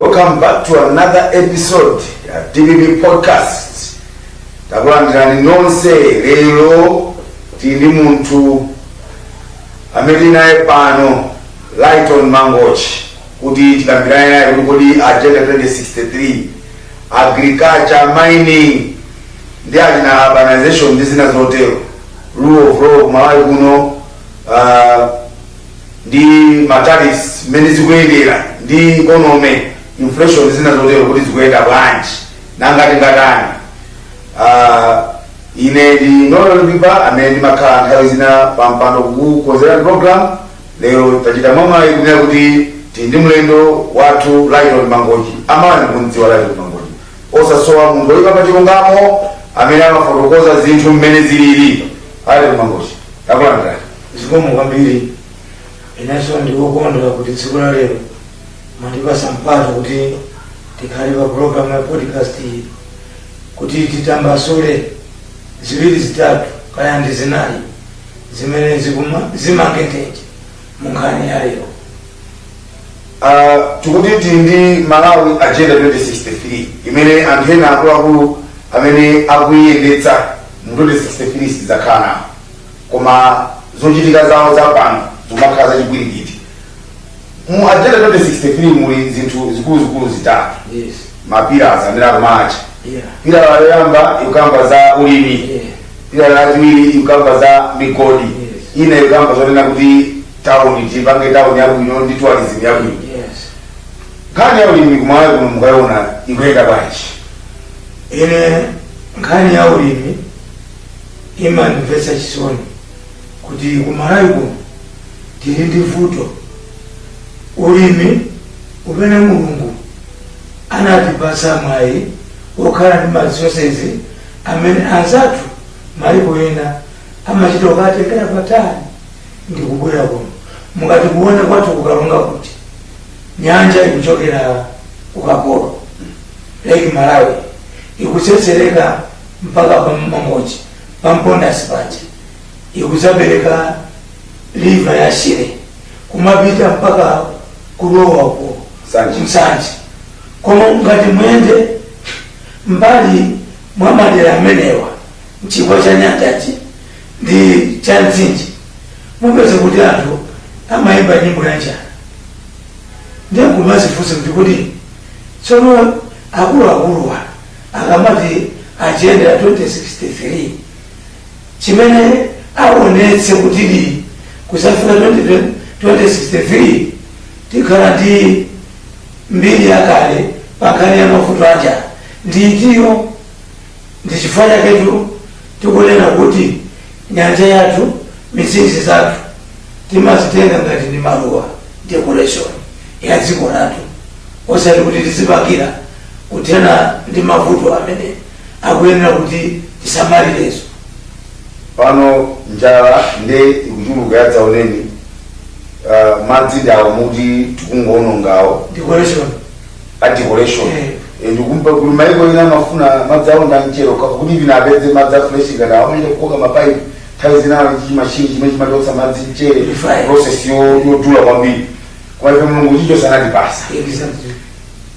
Welcome back to another episode ya DBB podcast. Takulandirani nonse lero tili ndi munthu amene tili naye pano Laiton Mangochi kuti tikambirane naye kuti kodi agenda 2063 agriculture mining ndi achina urbanization ndi zina zotero rule of law kumalawi kuno uh, ndi matariffs mmene zikuyendera ndi ekonomi inflation zina zotero kuti zikuyenda bwanji nanga tingatani Ah, ine ndi nolan biba amene ndimakhala nthawi zina pampando kukukonzera program lero tachita mwayi kunena kuti tili ndi mlendo wathu laiton mangochi amene kumdziwa laiton mangochi osasowa munthu oyipa pa chilungamo amene amafotokoza zinthu mmene zilili laiton mangochi takulandirani zikomo kwambiri inenso ndikukondwa kuti tsiku la lero mwandipasa mpata kuti tikhale pa programu ya podcast iyi kuti titambasule ziwiri zitatu kaya ndi zinayi zimene zimangengeje mu nkhani ya lero Ah, tikuti tili ndi malawi agenda 2063 imene anthu ena akuluakulu amene akuyiyendetsa mu 2063 sadzakhala nawo koma zochitika zawo za pano zimakhala zachipwirikiti mu agenda 2063 muli zinthu zikuluzikulu zitatu Yes. mapilars amene akumatcha Yeah. pilala yoyamba ikukamba za ulimi Yeah. pilala yachiwiri ikukamba za migodi Yes. ina ikukamba zonena kuti tawuni tipange tawuni yabwino ndi tourism yabwino Yes. nkhani ya ulimi kumalawi kuno mukayiona ikuyenda bwanji ine nkhani ya ulimi imandimvetsa chisoni kuti kumalawi kuno tili ndi vuto ulimi umene mulungu anatipatsa mwayi wokhala ndi marisosezi amene anzathu maiko ena amachita kukatengera patali ndi kubwera kuno mukati kuona kwathu ku Karonga kuti nyanja ikuchokera kuphokolo lake malawi ikutsetsereka mpaka pa mangochi pa mpondasi paja ikudzapereka river ya shire kumapita mpaka kulowa uko Nsanje koma ngati muyende mbali mwa madera amenewa mchigwa cha nyanjachi ndi cha mtsinje mupeze kuti anthu amayimba nyimbo ya njala ndiye kumazifunsa kuti kuti tsono akuluakuluwa akamati agenda ya 2063 chimene awonetse kutidi kuzafika 20- 2063 tikhala ndi mbiri yakale pa nkhani ya mavuto a njala ndi itiyo ndi chifukwa chaketu tikunena kuti nyanja yathu mitsinje yathu timazitenga ngati ndi maluwa decoration ya dziko lathu osati kuti tizipangira kuthana ndi mavuto amene akuyenera kuti tisamalirezo. Pano njala nde ikuchuluka yadzaoneni, uh, madzi ndi awo muti tikungoonongawo Decoration. a decoration Eh. Eh, ndikumva kuli maiko ena amafuna madzi awo ndamchero kuti mwina apeze madzi a fresh ngati awa amene kukoka mapaipi nthawi zinawo chimashini chimene chimachotsa madzi mchere Refine. process yo- yodula kwambiri kwa ife mulungu chicho anatipasa Exactly.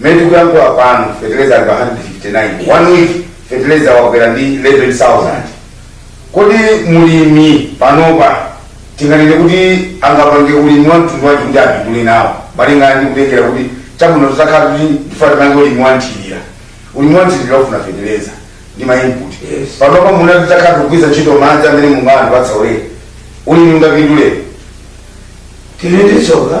Mmene tikuyankhula pano feteleza ali pa 159, one week feteleza wakwera ndi 11,000. Kodi mlimi panopa tinganene kuti angapange ulimi wa mtundu wanji kuti apindule nawo malingana ndi kutengera kuti chabwino tizakhala kuti ndifuna tipange ulimi wa nthirira. Ulimi wa nthirira ufuna feteleza ndi ma input. Yes. Panopa mwina tizakhala tikugwiritsa ntchito madzi amene Mulungu anatipatsa ulere. Ulimi ungapindule. Tili ndi tsoka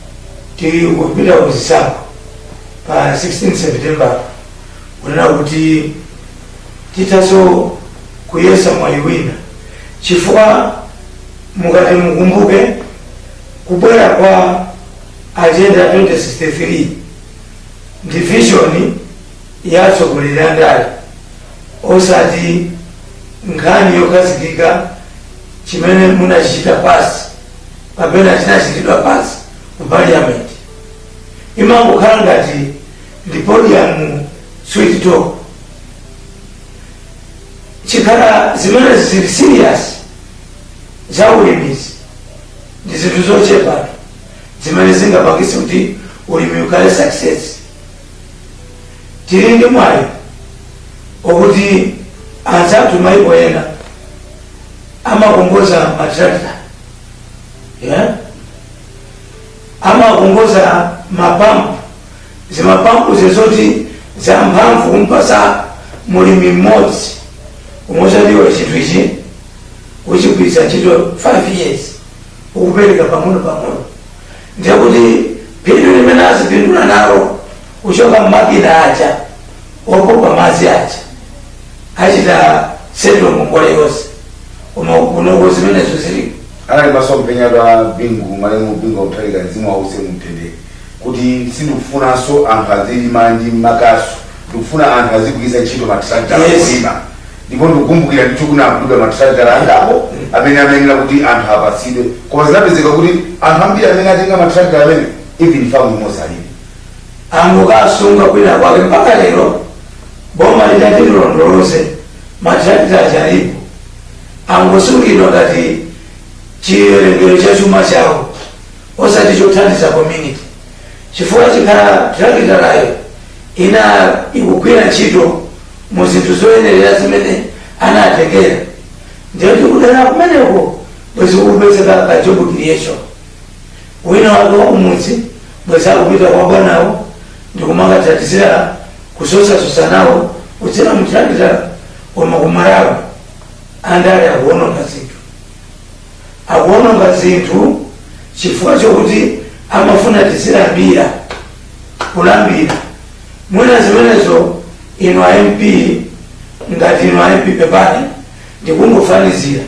tili kupita ku zisankho pa 16 september kunena kuti tithaso kuyesa mwayi wina chifukwa mukati mukumbuke kubwera kwa agenda 2063 ndi vision ya atsogoleri a ndale osati nkhani yokhazikika chimene munachichita pass kapena chinachitidwa pass ku parliament imangokhala ngati ndi podium sweet talk chikhala zimene zili serious za ulimizi ndi zinthu zochepa zimene zingapangitse kuti ulimi ukhale success tili ndi mwayi okuti anzathu maiko ena amakongoza matrakta yeah? amakongoza mapampu zimapampu zozoti za mphamvu kumpasa mulimi mmodzi umuuza tiwa chinthu ichi kuchigwiritsa ntchito 5 years ukupereka pang'ono pang'ono ndiye kuti phindu limene azipindula nalo kuchoka m'makina aja opopa madzi aja achita settle ngongole yonse koma kunoko zimenezo zilipo anali masomphenya a bingu malemu bingu wa mutharika mzimu wawo uuse mumtendere kuti sindikufunanso anthu azilima ndi makasu ndikufuna anthu azigwiritsa ntchito matrakita kulima Ndipo ndikukumbukira ndithu kunagulidwa mathirakitala angapo amene amayenera kuti anthu apatsidwe, koma zinapezeka kuti anthu ambiri amene anatenga mathirakitala amenewo even famu imodzi alibe. Angokawasunga kwinakwake mpaka lero boma litati lilondoloze mathirakitala aja alipo, angosungidwa ngati chiwerengero cha chuma chawo osati chothandiza community, chifukwa ikanakhala thirakitalayo inali ikugwira ntchito mu zinthu zoyenerera zimene anatengera ndiye kuti kudera kumeneko bwezi kukupezeka ka job creation wina wake wa kumudzi bwezi akupita kwa bwanawo ndikumakatakasira kusosasosa nawo kudzera muthirakita koma kumalawi kuno andale akuononga zinthu akuononga zinthu chifukwa chokuti amafuna tiziwalambira kulambira mwina zimenezo inu a mp ngati inu a mp pepani ndikungofanizira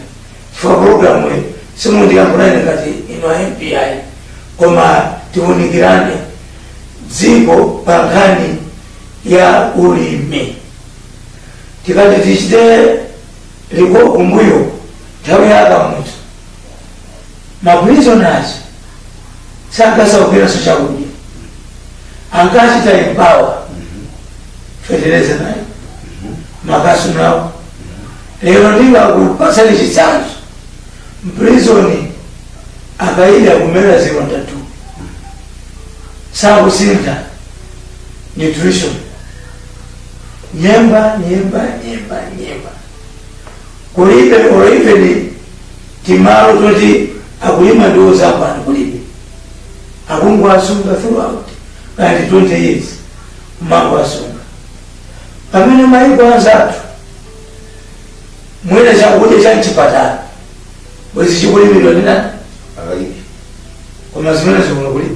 chifukwa programu iyi sindikuyankhulani ngati inu a mp ayi koma tiunikirane dziko pa nkhani ya ulimi tikati tichite Iko kumbuyo nthawi ya akamuzu maprisoners sankasaukiranso chakudya ankachita empower fetereza nayu makasu nawa lero ndingakupatseni chitsanzo mprizoni akaidi akumera zilonda tu sakusintha nutrition Nyemba, nyemba, nyemba, nyemba. Kulibe or even timalo toti akulima ndiwo zamasamba kulibe. Akungowasunga throughout ngati 20 years kumangowasunga. Pamene maiko anzathu mwina chakudya cha mchipatala bwezi chikulimidwa ndi nani? Akaidi. Koma zimenezi kuno kulibe.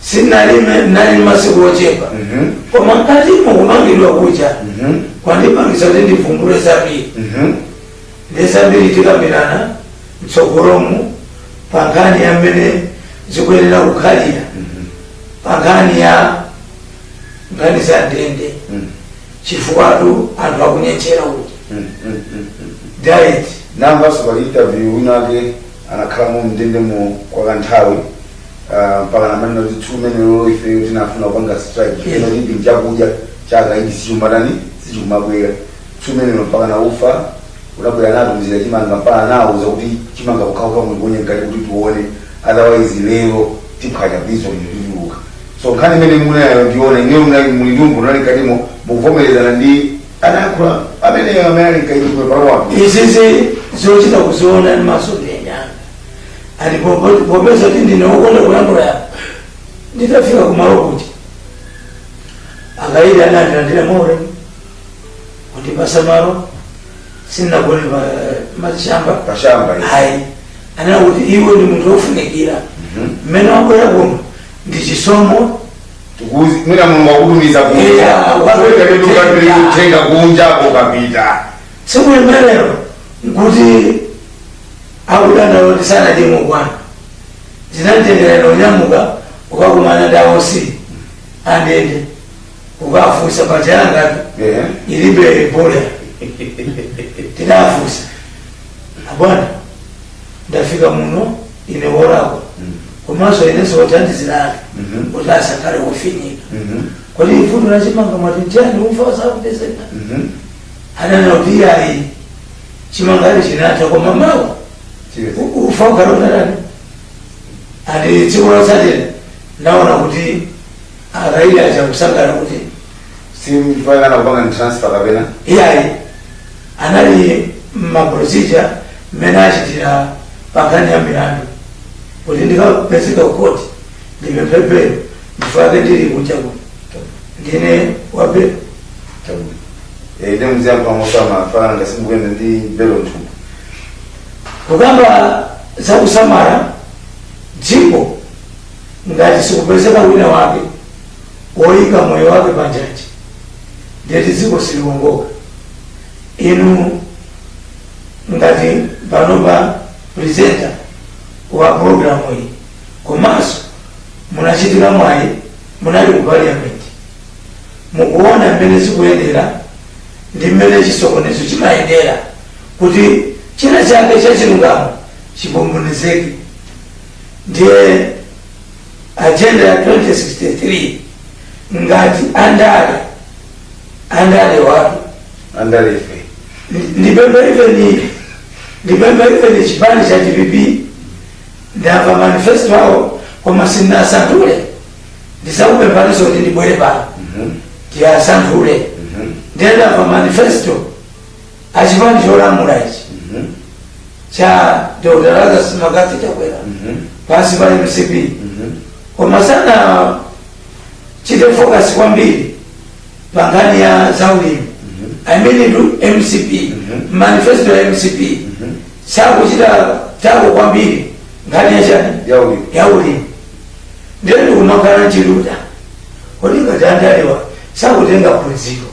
Sinali, anali ndi masiku ochepa. Koma mkatimo kumangidwa kuja kwandipangitsa kuti ndivumbule zambiri. Nde zambiri tikambirana mtsogolomu pa nkhani ya mmene zikuyenera kukhalira pa nkhani ya nkhani za ndende chifukwatu anthu akunyentchera kuti diet ndamvanso pali interview winake anakhalamo mndendemo kwa kanthawi Ah, mpaka amanena kuti two men law ife tinafuna kupanga strike ino chinthu chakudya chaka ichi sichumatani sichikumabwera two men law mpaka na ufa unabwera nato mzira chimanga mpaka nauza kuti chimanga chikuchoka mulikonye mkati kuti tione otherwise lero tiphwanya prison lino tituluka so nkhani imene munayiona inuyo mnali mulidumbu unali mkatimo mukuvomerezana ndi anayankhula amene amene ali mkaidi kumwe palowapo izi zochita kuziona ndi maso ndiye anyanga ati popo- popeza kuti ndine wokonda kulankhula ya nditafika kumalo kuti akaidi anandilandira moti kundipatsa malo sinagone pa mashamba pashamba ino. ayi anena kuti iwe ndi munthu wofunikira Mhm. mmene wabwera kuno ndi chisomo Tikuzi- mwina mulungu wakutumiza Yeah, wapita kuti ukapita. kutenga kunja ukapita tsiku limenelo nkuti Akudandaula kuti sanadye mokwana, ndinatengera ine kunyamuka kukakumana ndi a OC andende kukafunsa paja yangatu Ehe. ilibe belo tinafunsa abwana ndafika muno ine wolakwa komanso ine ndiwathandizira akaidi Mhm. kuti asakhale ofinyika Mhm. kodi mfundo yachimanga mwati nchani ufa sukupezeka Mhm. ananena kuti iyayi chimanga chinatha koma mawa ufa ukhala utatani ati tsiku lotsatira naona kuti akaidi aja kusangalala kuti sikuti anapanga ndi transfer kapena iyayi anali maprosija mmene achitira pankhani ya milandu kuti ndikapezeka kukoti ndipemphe belo ndichifukwa chake ndili kunja kuno ndine wa belo. Eh, ine muziyenda mosamala ngati simukuyenda ndi belo mthumba. kukamba za kusamala dziko ngati sikupezeka wina wake woyika moyo wake panjanji ndekuti dziko siliwongoka inu ngati panopa presenter wa programu iyi komanso munachitira mwayi munali ku parliament mukuona mmene zikuyendera ndi mmene chisokonezo chimayendera kuti china chake cha chilungamo chisokonezeke ndiye agenda ya 2063 ngati andale andale watu andalefe ndipembe even ndipembe even chipani cha dpp ndamva manifesto awo koma sindinasanthule ndizakupemphaninso kuti ndibwere pano tiyasanthule ndiye ndamva manifesto achipani cholamula ichi cha dr lazarus mccarthy chakwera pansi pa mcp koma sanachite focus kwambiri pa nkhani ya zaulimi amenetu mcp manifesto ya mcp sakuchita tackle kwambiri nkhani yachani Yaulimi. yaulimi ndiye ndikumakhala ndi chidwi kodi ngati andalewa sakutenga phunziro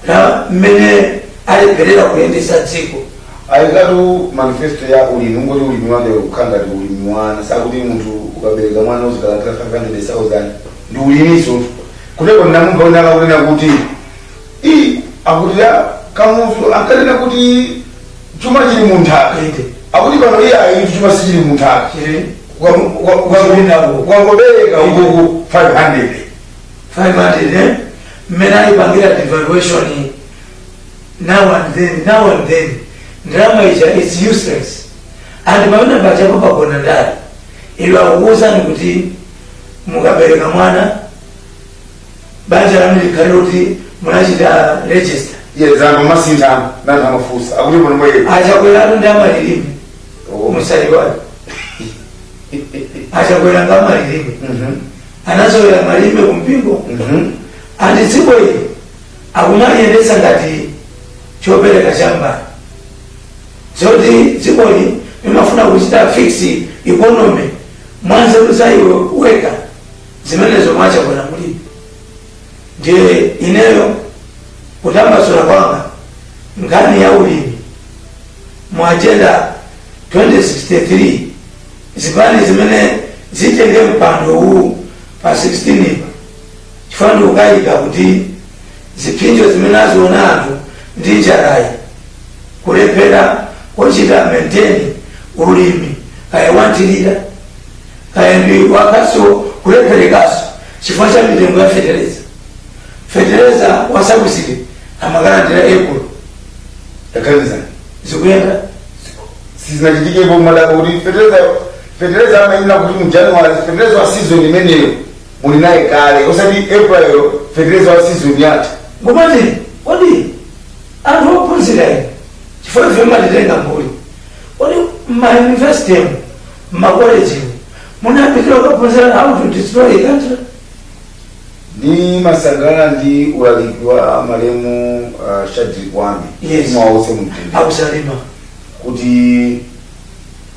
la mmene alephera kuyendesa dziko ayikatu manifesto ya ulimi ngoti ulimi wake ukhala ngati ulimi wa ana zakuti munthu ukabereka mwana uzikalandira 500000 ndi ulimiso Kutepo ndinamumva wina akakunena kuti i akuti a kamuzu ankanena kuti chuma chili mu nthaka Inde. akuti pano iye ayi chuma sichili mu nthaka Chili. pongobereka ukuku 500 500 eh? mmene ayipangira devaluation now and then now and then ndalama ija is useless and pamene pachabepo pagona ndani ilo akukuwuzani kuti mukabereka mwana banja lanu likhale kuti munachita register iye zanga masiku ano anthu amafunsa akuti pano mwati achakwelatu ndi amalilime musaiwale achakwela ndi amalilime anazolera malilime ku mpingo and dziko ili akumaliyendetsa ngati chopereka cha mbali zoti dzikoli limafuna kuchita fix economy Mwanzeru za iwe weka zimenezo mwa Chakwera mulibe. Ndiye ineyo kutambasula kwanga nkhani ya ulimi mu agenda 2063 zipani zimene zitenge mpando uwu pa 16 apa Chifukwa ndikukayika kuti ziphinjo zimene aziona anthu ndi njalayi, kulephera kuchita maintain ulimi kaya wanthirira kaya ndi wakhasu kulepherekaso chifukwa cha mitengo ya feteleza. Feteleza wa sabuside amakalandira April. Taganizani. Zikuyenda? Sizinachitikepo madala kuti feteleza feteleza amayenera kuti mu January feteleza wa season imeneyo muli naye kale osati april fetereza wa season yatha nkumati kodi anthu ophunzira inu chifukwa ife mumatitenga mbuli kodi mmayunivesitemu mmakolejimu munapitira kukaphunzira how to destroy a country ndimasangalala ndi ulaliki wa malemu uh, shadreck wame Yes. awuse mumtendere akusalima kuti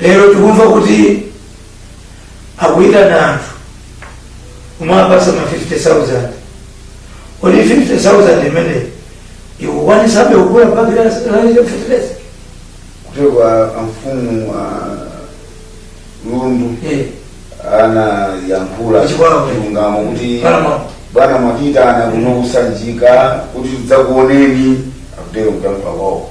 lero tikumva kuti akuyitana anthu nkumawapatsa ma 50000 kodi 50000 imene siyikukwanitsabe kugula bagi la feteleza kutero kwa amfumu a lundu Eh, anayankhula Kuchikwawa. chilungamo kuti Paramount. bwana mwatiitana kuno kusanjika kuti tidzakuoneni akutero kuyankhula kwawo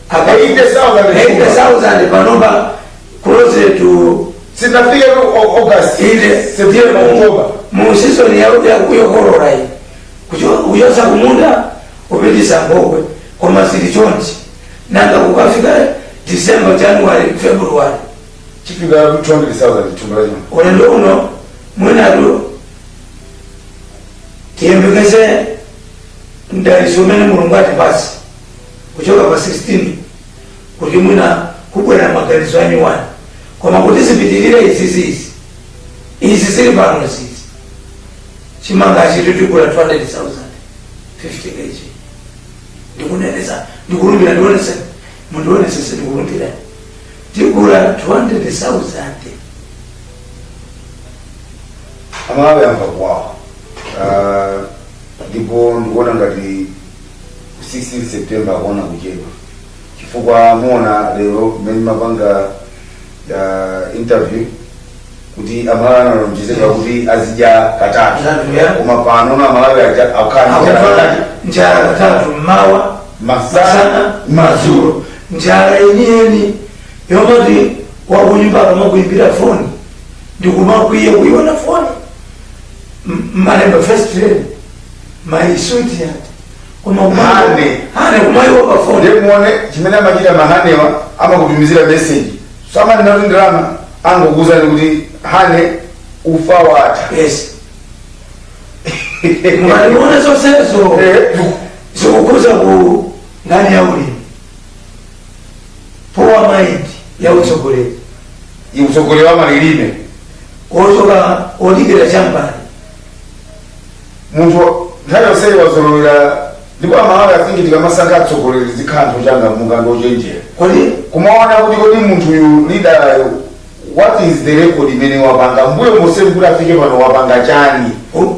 apa 80,000 80,000 panopa close to sinafike ku Au- august ile september october mu season ya ya kuyokorora iyi Kucho- kuchotsa kumunda kupititsa munkhokwe koma zili chonchi nanga kukafika december january february chipunda 200,000 thumba lachimanga ulendo uno mwinatu tiyembekeze mdalitso umene mulungu atipatse kuchoka pa 16 kuti mwina kubwera maganizo anyuwani koma kuti zipitirire izizi izi izi zili panozizi chimanga chichi tigula 200,000 50 kg ndikuneneza ndikulumbira ndionese mundionesese ndikulumbira tigula 200,000 amalawi amva kuwawa Ah, ndipo ndikuona ngati 16 september akuona kuchedwa chifukwa mwaona lero mmene mumapanga uh, interview kuti amalawi analonjezedwa kuti azidya katatu Katatu, yeah. koma pano na amalawi aja- akukhala ndi njala. akukhala njala katatu mmawa masana masana madzulo njala yeniyeni yomati wakunyumba akamakuimbira foni ndikumakwiya kuiona foni M- malemba first train mayi switi ati koma Hane. hane kumayimba pa foni ndiye muone chimene amachita mahanewa amakutumizira meseji samanena kuti ndalama angokuuzani kuti hane ufa watha yes mwaliona zonsezo Eh, zikukhudza nkhani ya ulimi poor mind ya utsogoleri utsogoleri wa malirime wochoka odikira chambani munthu nthawi yonseyi wazolowera ndipo amalawi I think tikamasankha atsogoleri zikhala anthu ochangamuka ndi ochenjera kumaona kuti kodi munthuyu lidalayo what is the record imene wapanga mbuyo monse kuti afike pano wapanga chani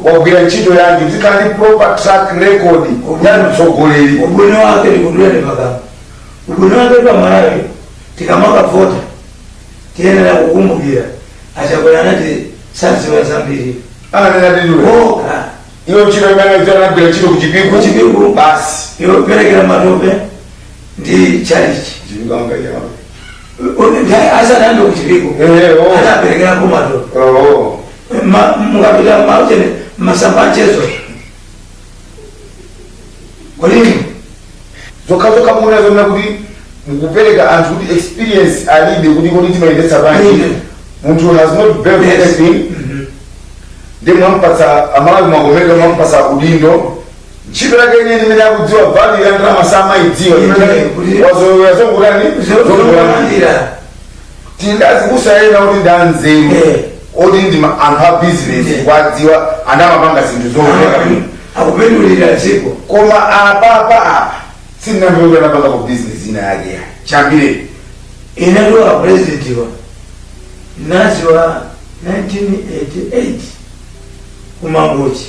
wagwira ntchito yanji zikhala ndi proper track record ya mtsogoleri ubwino wake ndikudulani pakamwa ubwino wake pa malawi tikamakavota tiyenera kukumbukira achakwera anati sadziwa zambiri ananena ndinu okha iwo ntchito imene anagwira ntchito ku chipingu Ku chipingu. basi yoperekera matope ndi tchalitchi Chipingambe yawo. asanambe kuchipiku Eh, oh. anaperekerako matope Oh. Ma- mukapita ma ujeni masamba achezo kuli zokhazokha muona zona kuti mukupereka anthu kuti experience alibe kuti kodi timayendetsa bwanji Mhm. munthu has not built Yes. anything ndiye mwampatsa amalawi mwakomeka mwampatsa udindo ntchito yake yeniyeni imene akudziwa value ya ndalama samayidziwa Mhm. Kuti- wazolowera zongotani Zongolira. tili ndi azibusa ena oti ndi anzeru Eh. oti ndi ma- anthu a bizinesi Eh. tikuwadziwa anamapanga zinthu zooneka bwino akupindulira dziko koma apapa apa sindinamvepo anapangako bizinesi ina yake yachambiri ine ndi a president ndinawadziwa 1988 kumangochi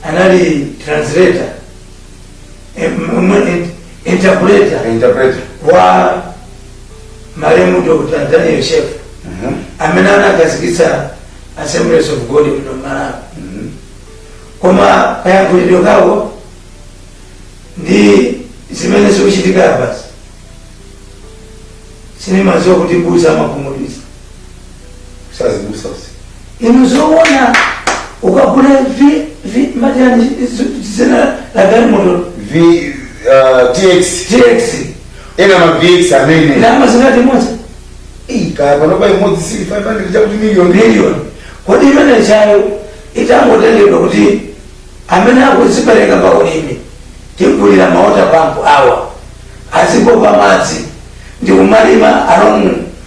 anali translator em- em- interpreter interpreter wa malemu dr daniel shef Mhm. amene anakazikitsa assemblies of god muno malawi Mhm. koma kayankhulidwe kawo ndi zimene zikuchitika apazi sindimadziwa kuti m'busa amakhumudwitsa azibusa usi inu zoona ukagula vi vi majani dzina la galimoto v uh, tx tx ena ma vx amene ndalama zingati imodzi kaya panopa imodzi sili 500 chakuti million milioni kodi imeneyo itangotengedwa kuti amene akudzipereka pa ulimi tigulire maota pampu awa azipopa madzi ndi kumalima along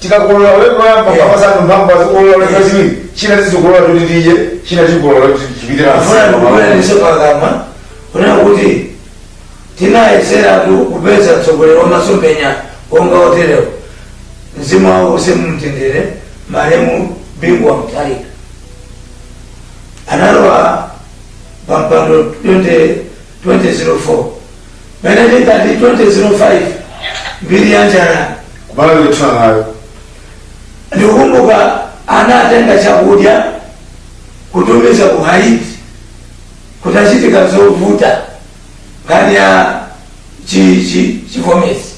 Tikakolola ulendo woyamba Yeah. ukapatsa anthu mphamvu azikolola ulendo Yeah. wachiwiri china tizikolola kuti tidye china tikolola kuti chipite na afuna msimu. ndikukwana pakamwa kunena kuti tinayeseratu kupeza mtsogoleri wa masomphenya wonga woterewo mzimu wawo uuse mumtendere malemu bingu wa mutharika analowa pampando 2004 mmene 2005 mbiri ya njala ku Malawi ndikutha nayo ndikukumbuka anatenga chakudya kutumiza ku haiti kutachitika zovuta nkhani ya chi- chi- chivomezi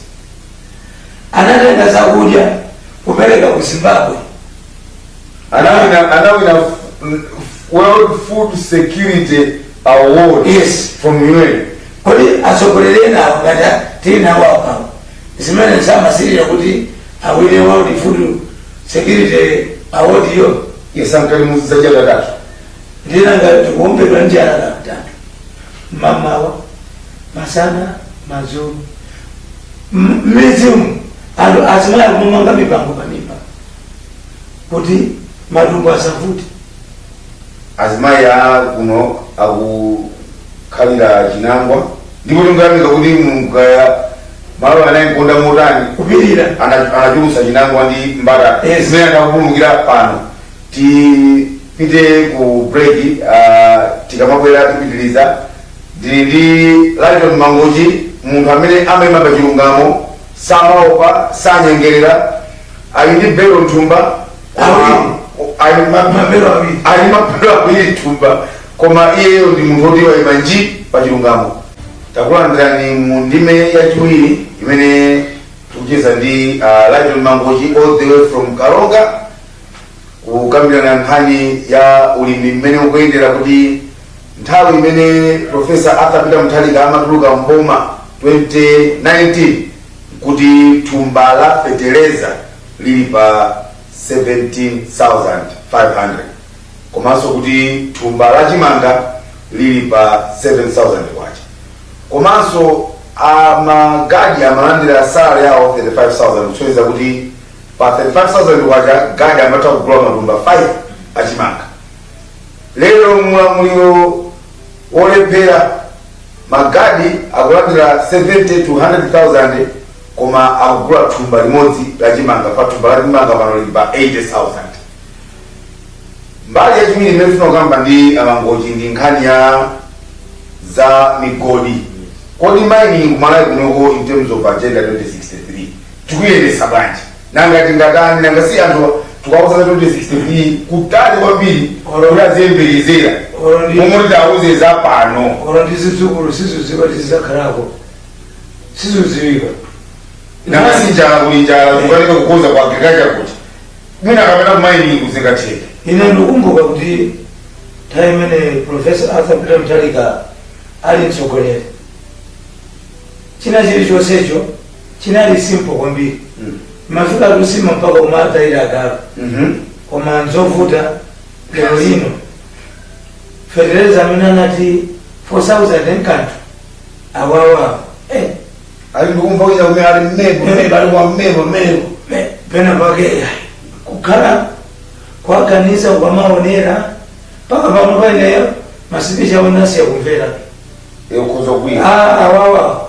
anatenga zakudya kupereka ku zimbabwe anawinana anawina f- f- world food security award Yes. from un kodi atsogoleri ena awo ngati tili nawo apa zimene samasirira kuti awine world food security award yo yesankalimuziza chatatatu ndinangoti tikuombedwa njala katatu mamawa masana madzulo M- mmidzimu anthu azimayi akumamanga mipango pamimba kuti matumbo asavute azimayi a kuno akukhalira chinangwa ndipo tikuyamika kuti mulungu kaya malo anawakonda motani kupirira Ana- anachulusa chinangwa ndi mbatata Yes. zimene akupulumukira pano ti Tipite ku break uh, tikamabwera tipitiliza ndili ndi Lyton Mangochi munthu amene amaima pa chilungamo samaopa sanyengerera ali ndi belo m'thumba Awiri. ali ma- Mabelo awiri. ali mabelo awiri m'thumba koma iyeyo ndi munthu woti waima nji pa chilungamo takulandirani mu ndime yachiwiri imene tikucheza ndi uh, Lyton Mangochi all the way from Karonga kukambirana nkhani ya ulimi mmene ukuyendera kuti nthawi imene profesa arthur peter mutharika amatuluka mboma 2019 kuti thumba la feteleza lili pa 17500 komanso kuti thumba la chimanga lili pa 7000 kwacha komanso amagadi amalandira salary yawo 35000 kusonyeza kuti Pa 35,000 kwacha gadi amatha kugula matumba 5 achimanga. Lero muulamuliro wolephera magadi akulandira 70 to 100,000 koma akugula thumba limodzi la chimanga pa- thumba la chimanga pano lili pa 80,000. Mbali yachiwiri imene tifuna kukamba ndi amangochi ndi nkhani ya za migodi. Kodi mining kumalawi kunoko in terms of agenda 2063 tikuyendesa bwanji nanga tingatani nanga si anthu tikawauza 2063 kutali kwambiri kuti aziyembekezera Oro ndi- momwe tidauze za pano olo ndi zidzukulu sizikudziwa tizizakhalako sizikudziwika nanga si njala kuli njala kukanika kukonza kwa agriculture kuti mwina kapena kumayiningi zingatheke ine ndikumbuka kuti nthawi imene profesa arthur peter mutharika ali mtsogoleri china chilichonsecho chinali simple kwambiri amafika nsima mpaka kumatayira agalu koma nzovuta lero lino fetereza amene anati 4000 enkanthu awawawo eh, ali ndikumva kuchita kumene ali mmembo mmembo ali kwa mmembo mmembo pe- pena pake eh, kukhala kwaganiza kwamaonera mpaka pano paneyo masipichi anasiya kumvera yokhoza kuya Ah, awawawo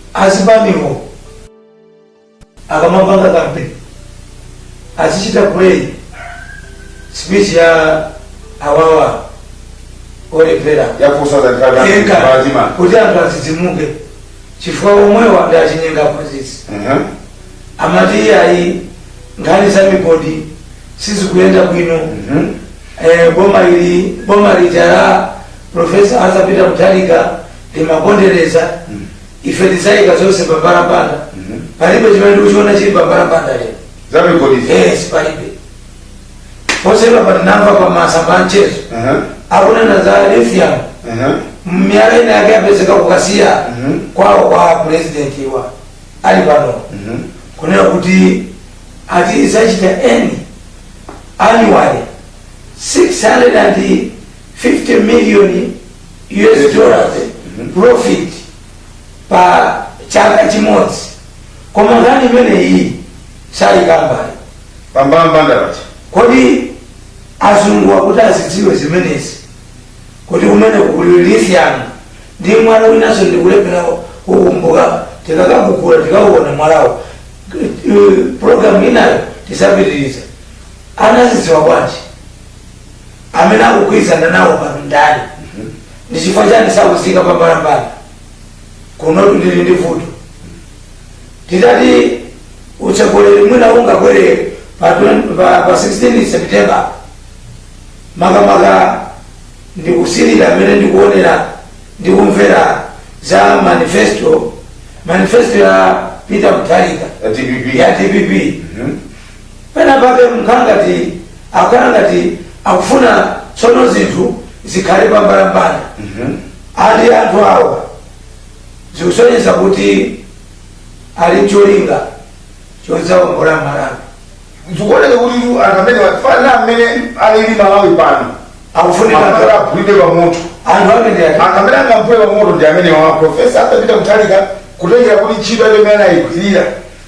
Azipanizo akamapanga campaign azichita play speech ya awawo olephera yakusoza yenga ndikaatima kuti anthu adzidzimuke chifukwa omwewa ndi achinyenga aphunzitsi amati iyayi nkhani za migodi sizikuyenda bwino eh, boma ili boma lija la profesa arthur peter mutharika ndi lopondereza ife tidzayika zonse pambalambanda palibe chimene ndikuchiona chili pambalambanda lero za migodi yes palibe posachedwapa tinamva pa masamba anchezo Aha, akunena za lithium aha. miyala ina yake yapezeka ku Kasiya Mhm. kwawo kwa pulezidenti wa alipoyu Mhm. kunena kuti ati izachita earn annually 650 million us dollars profit pa chaka chimodzi koma nkhani imeneyi sakuikamba pambalambanda ati kodi azunguwa kuti azidziwe zimenezi kuti kumene kuli lithium ndi mwala winanso ndikulephera kukumbuka tikakagugula tikauona mwalawo Eh, programu inayo tidzapitiriza anazidziwa bwanji amene akugwirizana nawo pano ndani ndi chifukwa chani sakuziika pambalambanda kunotu ndili ndi vuto titati utsogoleri wina ungakwere pa, twen- pa, pa 16 september makamaka ndikusilira amene ndikuonera ndikumvera za manifesto manifesto ya peter mutharika dpp ya dpp Mhm. Pena pake mumakhala ngati akukhala ngati akufuna tsono zinthu zikhale pambalambanda ali anthu awa zikusonyeza kuti ali ncholinga chodzaongola malawi zikuoneka kuti tu anthu amene kana mmene alili malawi pano Akufunika- amene aphulidwe pa moto anthu amenewa anthu amene angamphule pa moto ndi amenewa profesa Arthur Peter Mutharika kutengera kuti ntchito yake imene anayigwirira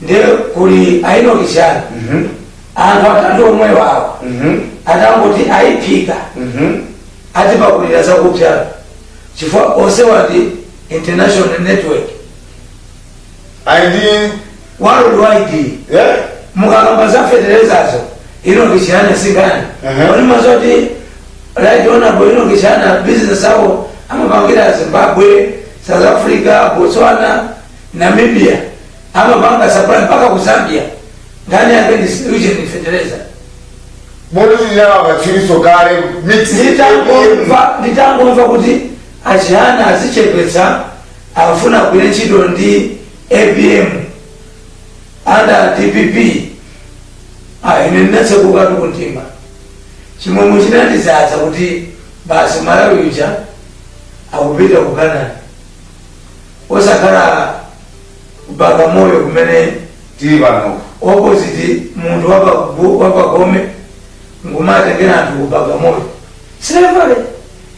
ndiye kuli a Enock Chihana Mhm. anthu atatu omwewawo Mhm. atangoti ayiphika Mhm. ati pakulira zakupsa chifukwa onse wati international network Ayi ndi worldwide eh? mukakamba za fetelezazo Enock Chihana singani Mhm. oni mazoti right honorable Enock Chihana ma business awo amapangira zimbabwe south africa botswana Namibia amapanga supply mpaka ku Zambia nkhani yake ni solution ni fertilizer Muluzi yawa wachiriso kale mix nditangomva nditangomva kuti achihana azichepetsa afuna kugwira ntchito ndi apm under dpp ah, ine ndinatsekuka kumtima chimwemwe chinandidzadza kuti basi malawi uja akupita ku kanani osakhala bagamoyo kumene tili pano opposite munthu wabagome nkumatengera anthu ku bagamoyo silevale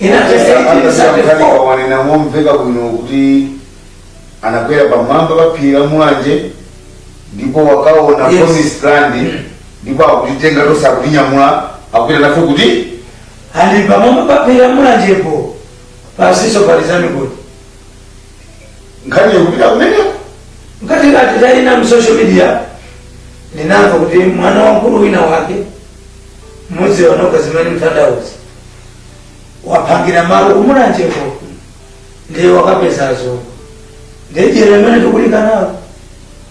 ena tisayerekeze po wanena momveka bwino kuti anakwera pamwamba pa phiri la mulanje ndipo wakaona Yes. promised land ndipo akutitenga tonse akutinyamula akupita nafe kuti ali pamwamba paphiri la mulanjepo pasiso palizamikoti nkhani yokupita kumeneko ngati kathu tawona mu social media ndinamva kuti mwana wamkulu wina wake mmodzi wa anu kazimene mtandauzi waphangira malo kumulanjeko ndiye wakapeza zovuta ndiye jere imene tikulikanalo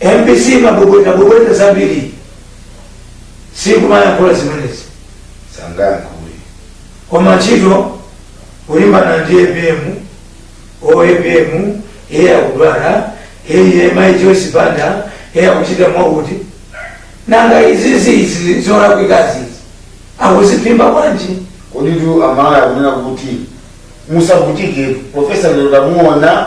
mbc imabwebweta bwebweta zambiri siikumayankhula zimenezi sangayankhule koma ntchito kulimbana ndi apm oh apm iye akudwala iye mai joyce banda iye akuchita mwakuti nanga izizi izi zolakwikazi izi akuziphimba bwanji koditu amalawi akunena kuti musavutike profesa lero takuonani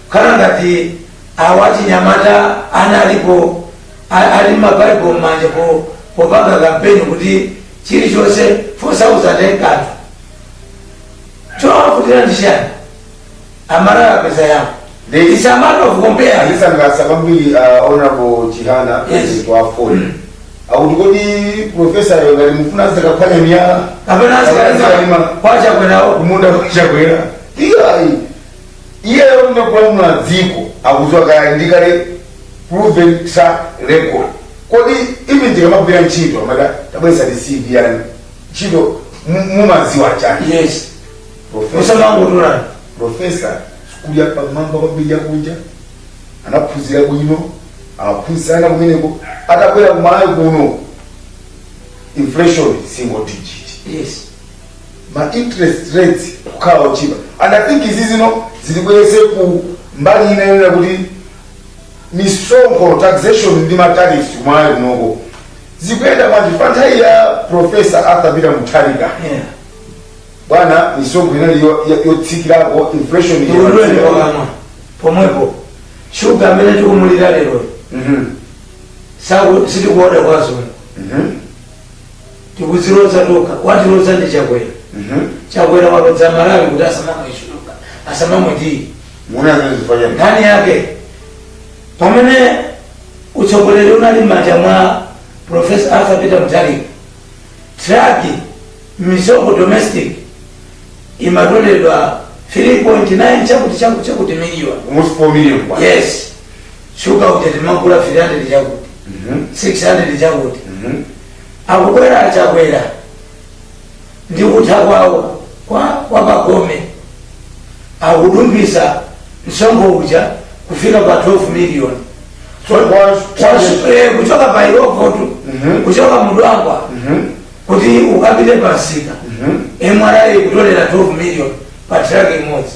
Kukhala ngati awo achinyamata analipo a- ali ma Bible m'manja po popanga campaign kuti chilichonse 4000 yekhatu chowavutira ndi chani amalawi apeza yawo They- it's a matter of compare andisangalatsa kwambiri uh, honorable chihana Yes. mmene amafunsa kuti kodi profesayo ngati mukufuna azikaphwanya miyala kapena Kapena azikaima. azikaima kwacha kwenawo kumunda kwachakwera iyayi iyeyo kunja kulamula dziko akuziwa kaya ndi kale proven track record kodi even tikamagwira ntchito amati tabweretsani cv yanu ntchito mu- mumaziwa chani yes Professor- musamangotola profesa sukulu yapamwamba kwambiri yakunja anaphunzira bwino amaphunzitsanso kumeneko atabwera kumalawi kuno inflation single digit yes ma interest rates kukhala otchipa and i think izi zitibweretse ku mbali ina yonena kuti misonkho taxation ndi matarifu m'malawi kunoko zikuyenda bwanji pa nthawi ya profesa arthur peter mutharika Yeah. bwana misonkho inali yo- yo- yotsikirako inflation iyo- ulendo wa kamba pomwepo shuga amene tikumulira lero Mhm. chifukwa sitikuoda kwazungu Mhm. tikuziwoda tokha watilodza ndi chakwera Mhm. chakwera walodza malawi kuti asamamwe phala asamamwe tiyi Muna zimene zifanana. nkhani yake pamene utsogoleri unali m'manja mwa profesa arthur peter mutharika traki misonkho domestic imatoleredwa 3.9 chakuti chakuti chakuti miliyoni Almost 4 million kwa. yes shuga uja timagula 300 chakuti 600 chakuti akubwera a chakwera ndi kutha kwawo kwa kwa pagome akudumphisa msonkho uja kufika pa 12 million Chonse, kuchoka pa illovotu kuchoka ku dwangwa kuti ukapite pamsika mra kutolera 12 million pa traki imodzi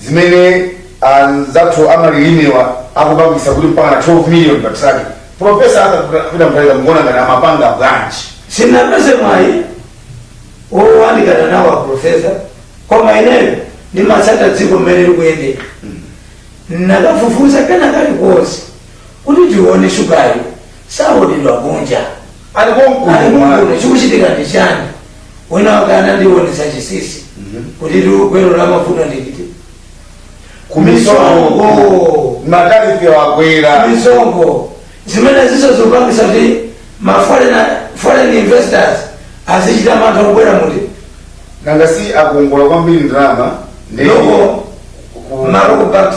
zimene anzathu amalimewa akupangisa kuti mpaka na 12 million pa truck profesa arthur peter mutharika mukuona ngati amapanga bwanji sindinapeze mwayi woyandikana nawo aprofesa koma ineyo ndimatsata dziko mmene likuyendera ndi kufufuza kena kalikonse kuti tione shugayu saoneka kunja ali konkuno alimukuno chikuchitika ndi chiyani wina wake anandionetsa chinsinsi kuti ugwero la mavuto ndi uti ku misonkho misonkho matarifi akwera misonkho zimene zikupangitsa kuti ma foreign- foreign investors azichita mantha kubwera muno nanga si akongola kwambiri ndalama ndi loko ku- ma loko banks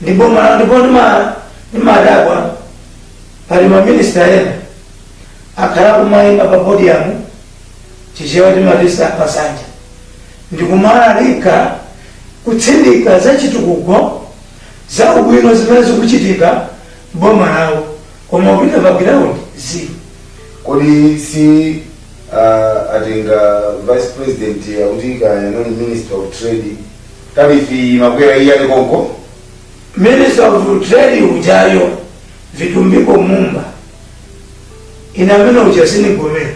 ndipo ma- ndipo ndima- ndimadabwa pali maminista ena akhala kumayima pa podiyamu chichewa timatisa pasanja ndikumalalikira kutsindika za chitukuko za ubwino zimene zikuchitika boma lawo koma ukapita pa ground zero kodi si uh, atenga vice president akuti kaya anali minister of trade tarifi imakwera iye ali konko minista of trade ujayo vitumbiko mumba ineyo munthu uja sindigomera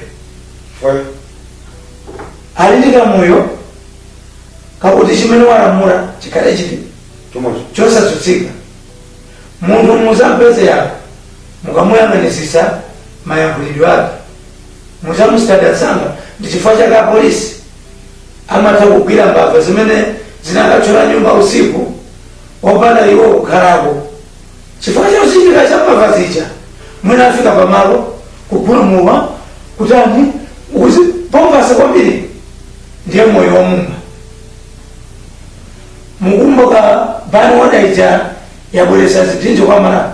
chifukwa ali ndi kamoyo kakuti chimene walamula chikhale chili chomwecho chosatsutsika munthu muzampeze yanu mukamuyang'anitsitsa mayankhulidwe ake muzamusitadatsanga ndi chifukwa chake apolisi Amatha kugwira mbava zimene zinakathyola nyumba usiku opanda iwo kukhalapo. Chifukwa cha chozindikira cha mbava zija, mwina afika pamalo kupulumuka, kutani, uzi, pompasa kwambiri ndiye moyo wamuma. Mukumbuka ban order ija yabweretsa zipsinjo kwa Malawi.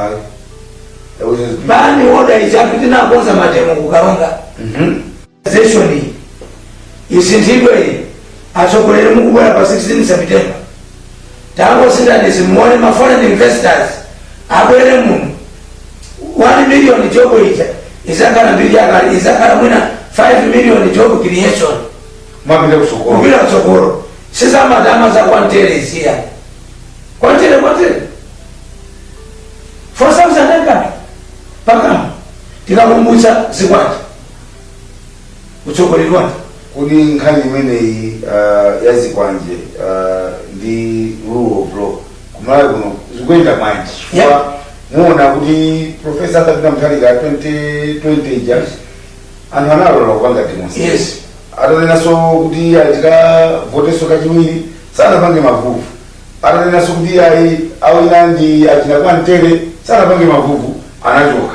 Ayi. Yakuti- Ban order ija kuti anakonza mademo ku Karonga. Mhm. zeshoni isinthidwe iyi atsogoleri mukubwera apa 16 september tangosinthani izi muone ma foreign investors abwere muno 1 million job ija izakhala mbiri yakale izakhala mwina 5 million job creation mwapita kusukulu kupita kutsogolo sizamatama za kwantere ziya kwantere kwantere 4000 akuti pakamwa tikakumbutsa zikwanje kutsogoleredwani kodi nkhani imeneyi uh, ya zikwanje uh, ndi rule of law ku Malawi kuno zikuyenda bwanji Yeah. chifukwa muona kuti profesa atapita Mutharika 2020 ija anthu analola kupanga demonstration Yes. atanenanso kuti ayi tikavotenso kachiwiri sanapange mavuvu atanenanso kuti ayi awina ndi achina Kwantere sanapange mavuvu anachoka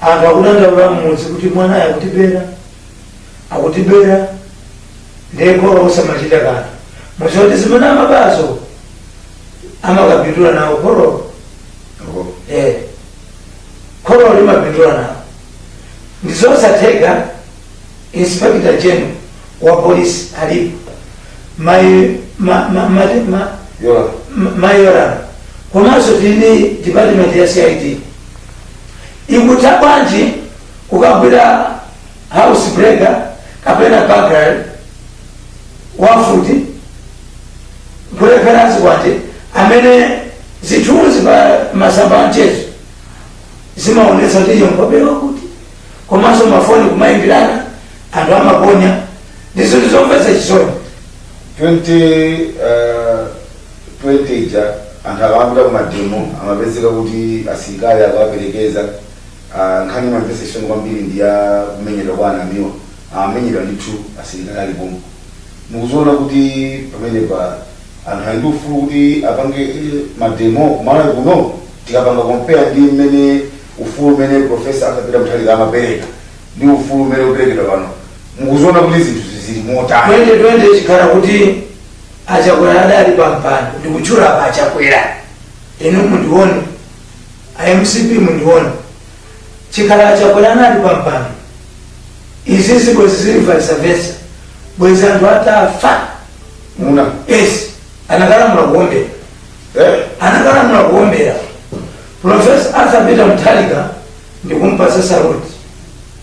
Anthu akudandaula mmudzi kuti mwanayo akutibera akutibera ndiye kholo osamachita kanthu mudziwa kuti zimene amabazo amakapindula nawo kholo Apo. eh kholo limapindula nawo ndizosatheka inspector general wa polisi alipo mai ma, ma, ma, ma, Yola. mai Yolamu komanso tili ndi department ya cid ikutha bwanji kukagwira house breaker kapena burglary wafuti kulephera zikwanje amene zithunzi pa masamba anchezo zimaonetsa kuti iyo nkhope ya wa kuti komanso mafoni kumayimbirana anthu amaponya ndi zinthu zomvetsa chisoni 20, uh, 20 ija anthu akamapita ku mademo amapezeka kuti asilikali akuwaperekeza Ah, nkhani imamvetsa chisoni kwambiri ndi ya kumenyedwa kwa a Namiwa amenyedwa ndithu asilikali ali pomwe mukuziona kuti pamenepa anthu ali ndi ufulu kuti apange eh, mademo kumalawi kuno tikapanga kompeya ndi mmene ufulu umene profesa Arthur Peter Mutharika amapereka ndi ufulu umene ukuperekedwa pano mukuziona kuti zinthu zili motani 2020 chikhala kuti achakwera adali pampando ndikutchula apa achakwera inu mundione a mcp mundione chikhala achakwera anali pampando izizi bwezi zili vice versa bwezi anthu atafa muli nasi anakalamula kuombera eh anakalamula kuombera profesa arthur peter Mutharika ndikumpasa saluti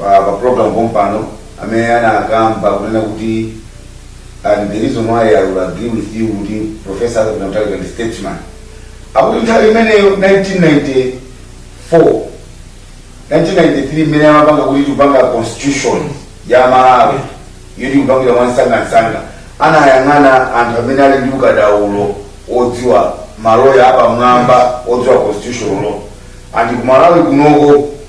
pa pa program pompano amene anakamba kunena kuti and the reason why I will agree with you kuti professor Arthur Peter Mutharika ndi statesman akuti nthawi imeneyo 1994 1993 imene amapanga kuti tikupanga constitution ya malawi yoti tikupangira mwansangansanga anayang'ana anthu amene ali ndi ukadaulo odziwa maloya apamwamba odziwa constitution law and kumalawi kunoko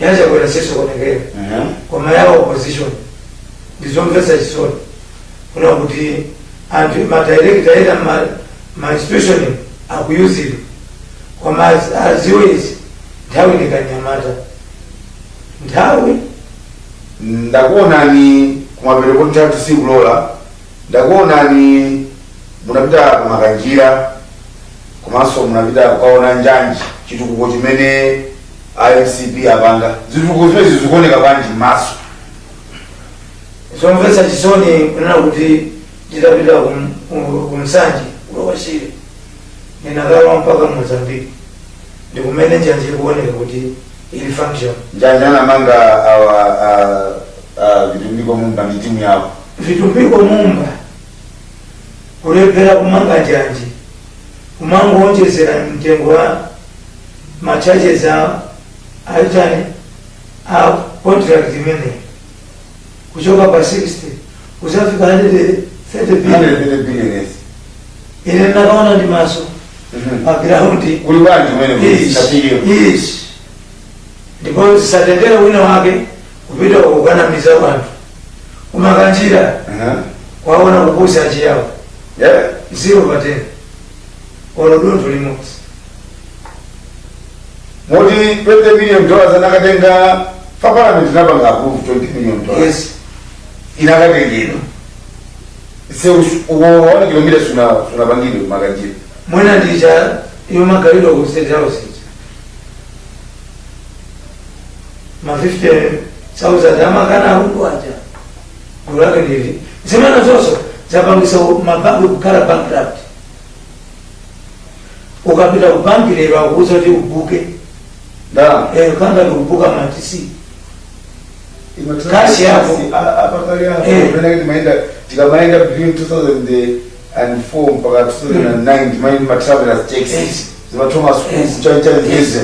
yachakwera sizikuonekera Aha. koma ya opposition ndizomvetsa chisoni kuona kuti anthu madirekta ena ma- mainstitution akuyuzidwa koma az- aziwe izi nthawi ndi kamnyamata nthawi ndakuonani ku mapeto kuti nthawi sikulola ndakuonani munapita ku makanjira kwa maso munapita kukaona njanji chitukuko chimene a mcp apanga zitukuko zimezi zikuoneka bwanji m'maso zomvetsa chisoni kunena kuti nditapita kum- ku- ku Nsanje ku Lower Shire ndinakalowa mpaka mozambiki ndikumene njanji ikuoneka kuti ili function njanji anamanga awa a- a vitumbiko mumba ndi timu yawo vitumbiko mumba kulephera kumanga njanji kumangowonjezera mtengo wa ma charges a achani a contract imeneyi kuchoka pa 60 kuzafika 130 billion 130 billion yes ine ndakaona ndi maso Mhm. pa ground kuli bwanji kumene Yes, 130 billion yes. ndipo zisatengere wina wake kupita kukanamiza wanthu ku makanjira Aha. kwaona kupusa achiyawo Yeah. zero patena olo dontho limodzi moti 20 million dollars anakatenga pa parliament inapanga approve 20 million dollars yes inakatengedwa see one kilomita sunapangidwe makanjira mwina ndicha yomagalidwa ku state house ma 50000 amakana akundu aja gulu lake ndili zimene zonse zapangisa mabanki kukhala bankrupt ukapita ku banki lero akuuza kuti ubuke ndalama Eh, ngati ndikubuka matisi Kashi yako. apakale Eh. apo timaenda tikamaenda between 2000 and and 4 mpaka 2009 timayenda ndi ma travelers cheque Yes. zima thomas Yes. cook chani chani Yes. ndize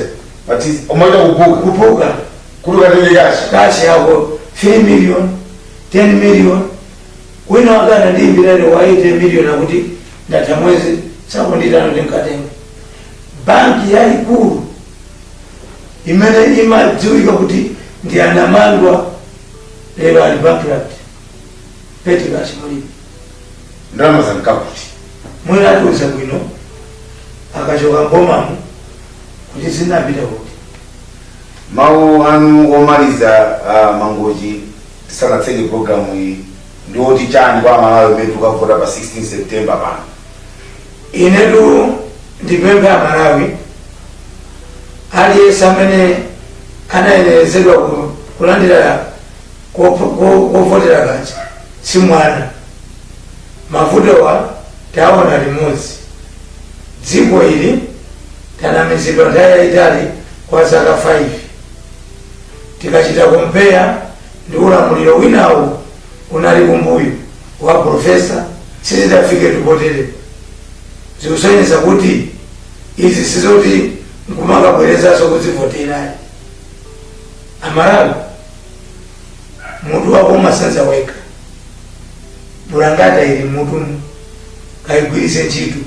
but umaita kubuka kubuka kuti ukatenge kashi kashi yako 3 million 10 million wina wake anandiimbira ine wa 8 million akuti ndatha mwezi sakundiitana ndikatenge banki yayikulu imene imadziwika kuti ndi anamadya lero ali bankrupt petty cash mulibe ndalama zanka kuti mwina atiuza bwino akachoka mbomamu kuti zinapita kuti mawu anu omaliza a mangochi tisanatseke programu iyi ndi oti chani kwa amalawi umene tikavota pa 16 september pano inetu ndipemphe amalawi aliyense amene anayenerezedwa ku- kulandira kopho- ko- kovotera kaja si mwana mavutowa tawaona limodzi dziko ili tanamizidwa nthawi yayitali kwa zaka 5 tikachita kumpeya ndi ulamuliro winawo unali kumbuyoko wa profesa sizidafike tupotere zikusonyeza kuti izi si zoti nkumakabwerezanso kuzivotera ayi Amalawi mutu wako umasenza wekha bulangete ili mutuwu ukaugwiritse ntchito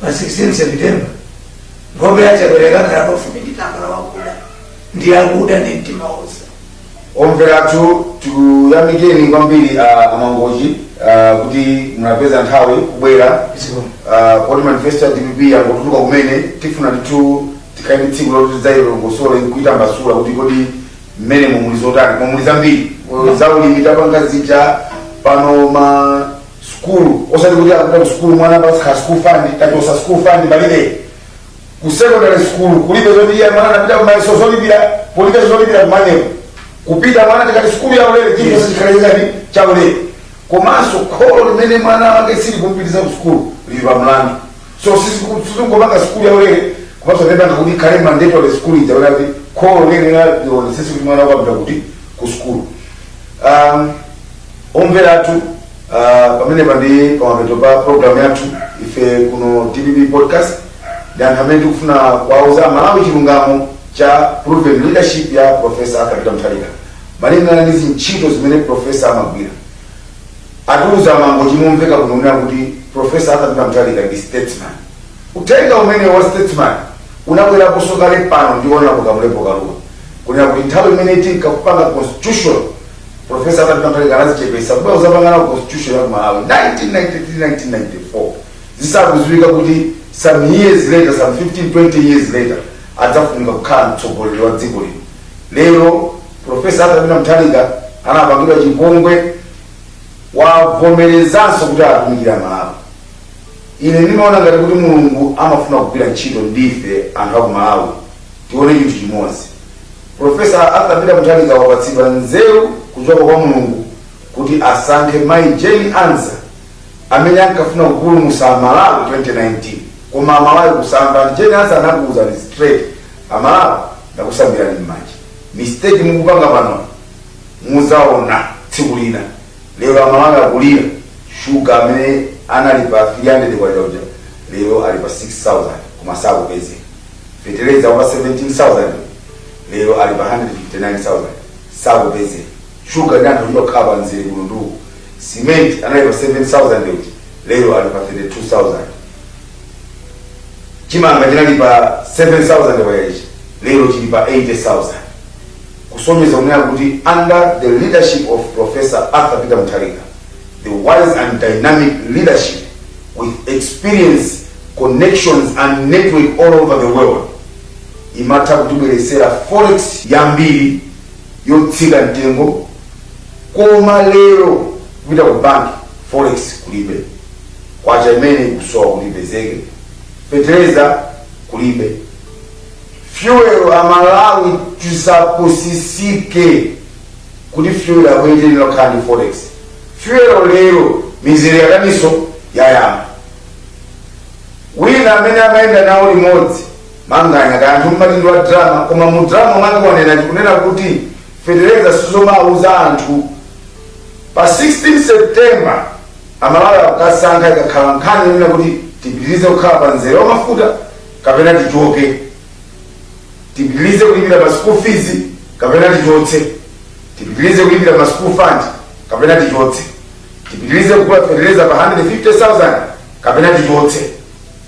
pa 16 september nkhope ya Chakwera ikakhala pafupi ndi tambala wakuda ndi akuba ndi mtima wonse omvera athu tikuyamikeni kwambiri ah, a Mangochi ah, kuti munapeza nthawi kubwera Zikomo. ah, poti manifesto ya dpp yangotuluka kumene tifuna ndithu tikhale ndi tsiku loti tidzailongosole nkuitambasula kuti kodi mmene mumuli zotani koma muli zambiri Oyo za ulimi tapanga zija pano masukulu osati kuti akupita kusukulu mwana pasakhale school fund tachotsa school fund palibe ku secondary school kulibe zoti iye mwana anapita ku mayeso zolipira palibe zolipira kumanyepo kupita mwana tikati sukulu ya ulere chilichonse chikhale chani cha ulere komanso kholo limene mwana wake sili kumpitiza ku sukulu lili pa mlandu so sitingopanga sukulu yaulere komanso ndi kupanga kuti ikhale mandatory sukulu ija kuti ati kholo liyenera lionetsese kuti mwana wake wapita kuti ku sukulu um, omvera athu uh, pamene pa ndi pamapeto pa programu yathu ife kuno dpp podcast ndi anthu amene tikufuna kuwauza Amalawi chilungamo cha proven leadership ya profesa Arthur Peter Mutharika malingana ndi zintchito zimene profesa amagwira atiuza a Mangochi momveka bwino kunena kuti Prof. Arthur Peter Mutharika ndi statesman. Uthenga umenewo wa statesman unabweraponso kale pano ndi Hon. Kamlepo Kalua kunena kuti nthawi imene tinkapanga constitution Prof. Arthur Peter Mutharika anazichepetsa kuti adzapange nawo constitution ya ku Malawi 1993-1994 zisakudziwika kuti some years later some 15-20 years later adzafunika kukhala mtsogoleri wa dziko lino lero Professor Arthur Peter Mutharika anapangidwa chipongwe wavomerezanso kuti atumikira Malawi. Ine ndimaona ngati kuti Mulungu amafuna kugwira ntchito ndife anthu a ku Malawi tione chinthu chimodzi. Professor Arthur Peter Mutharika wapatsidwa nzeru kuchoka kwa Mulungu kuti asankhe Mayi Jane Ansah amene ankafuna kupulumutsa Malawi 2019 koma Amalawi kusamva Jane Ansah anakuwuzani straight Amalawi ndakusambirani m'manja. mistake mukupanga panoyi muzaona tsiku lina lero amalawi akulira shuga amene anali pa 300 kwacha uja lero ali pa 6000 koma sakupezeka feteleza wa pa 17000 lero ali pa 159000 sakupezeka Shuga anthu ochita kukhala pa mzere kuno ndi uko. Cement anali pa 7,000 uja, lero ali pa 32,000. Chimanga chinali pa 7,000 kachija, lero chili pa 80,000. Kusonyeza kunena kuti under the leadership of Professor Arthur Peter Mutharika, the wise and dynamic leadership with experience, connections and network all over the world, amatha kutibweretsera forex yambiri yotsika mtengo koma lero kupita ku bank forex kulibe kwacha yimene kusowa ikumapezeka fetereza kulibe fuel amalawi tisapusitsike kuti fuel akuyenderera kukhala ndi forex fuel lero mizere yayikanso yayamba wina amene amayenda nawo limodzi Manganya kaya anthu mumati ndi wa drama koma mu drama mwake wanena ndi kunena kuti fetereza sizomawauza anthu pa 16 September amalawi akukasankha ikakhala nkhani yonena kuti tipitirize kukhala pa mzere wa mafuta kapena tichoke tipitirize kulipira pa school fees kapena tichotse tipitirize kulipira pa school fund kapena tichotse tipitirize kugula fetereza pa 150,000 kapena tichotse